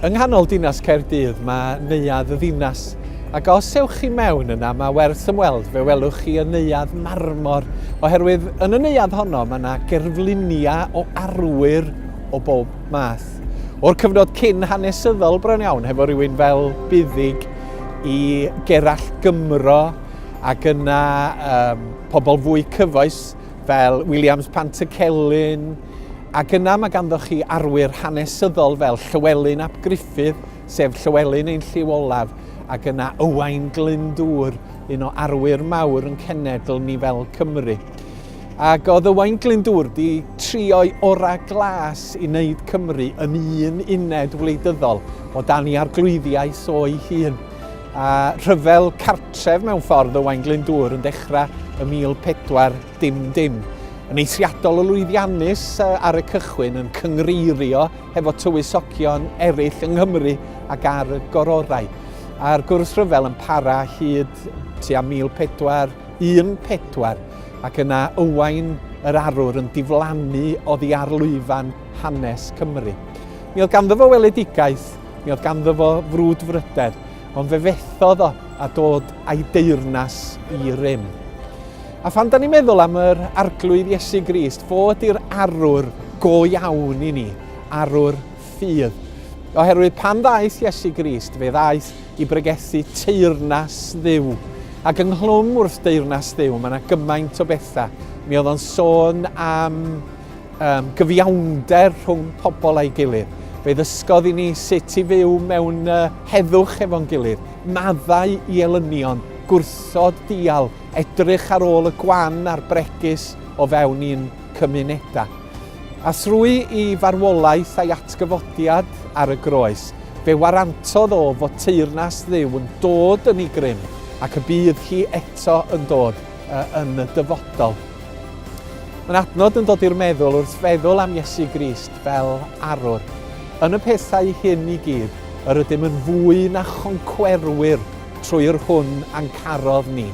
Yng nghanol dinas Caerdydd mae Neuadd y Ddinas ac os ewch chi mewn yna mae werth ymweld fe welwch chi y Neuadd Marmor oherwydd yn y Neuadd honno mae yna gerfluniau o arwyr o bob math. Cymreictod. O'r cyfnod cyn hanesyddol bron iawn, hefo rhywun fel buddig i Gerallt Gymro ac yna um, pobl fwy cyfoes fel Williams Pantycelyn, ac yna mae ganddoch chi arwyr hanesyddol fel Llywelyn ap Gruffydd, sef Llywelyn ein lliw olaf, ac yna Ywain Glyndŵr, un o arwyr mawr yn cenedl ni fel Cymru. Ac oedd Owain Glyndŵr wedi trio'i orau glas i wneud Cymru yn un uned wleidyddol o dan i arglwyddiaeth o'i hun. A rhyfel cartref mewn ffordd Owain Glyndŵr yn dechrau y 1410 yn eithriadol o lwyddiannus ar y cychwyn yn cyngreirio hefo tywysogion eraill yng Nghymru ac ar y gororau. A'r gwrthryfel yn para hyd tua 1400 14, ac yna Ywain yr Arwr yn diflannu oddi ar lwyfan hanes Cymru. Mi oedd ganddo fo weledigaeth, mi oedd ganddo fo frwdfrydedd, ond fe fethodd o a dod a'i deyrnas i rym. A phan da ni'n meddwl am yr arglwydd Iesu Grist, fo ydy'r arwr go iawn i ni, arwr ffydd. Oherwydd pan ddaeth Iesu Grist, fe ddaeth i bregethu teyrnas ddiw. Ac ynghlwm wrth deyrnas ddiw, mae yna gymaint o bethau. Mi oedd o'n sôn am um, gyfiawnder rhwng pobl a'i gilydd. Fe ddysgodd i ni sut i fyw mewn uh, heddwch efo'n gilydd, maddau i elynion, gwrthod dial, edrych ar ôl y gwan a'r bregus o fewn i'n cymunedau. A thrwy i farwolaeth a'i atgyfodiad ar y groes, fe warantodd o fod teyrnas Dduw yn dod yn ei grym ac y bydd hi eto yn dod yn y dyfodol. Mae'n adnod yn dod i'r meddwl wrth feddwl am Iesu Grist fel arwr. Yn y pethau hyn i gyd, yr ydym yn fwy na choncwerwyr trwy'r hwn a'n carodd ni.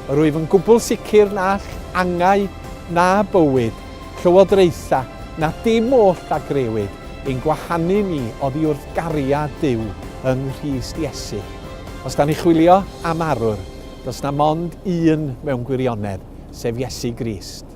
Yr wyf yn gwbl sicr na angau na bywyd Llywodraetha, na dim oll a grëwyd, i'n gwahanu ni oddi wrth gariad Duw yng Nghrist Iesu. Os da ni chwilio am arwr, does na mond un mewn gwirionedd, sef Iesu Grist.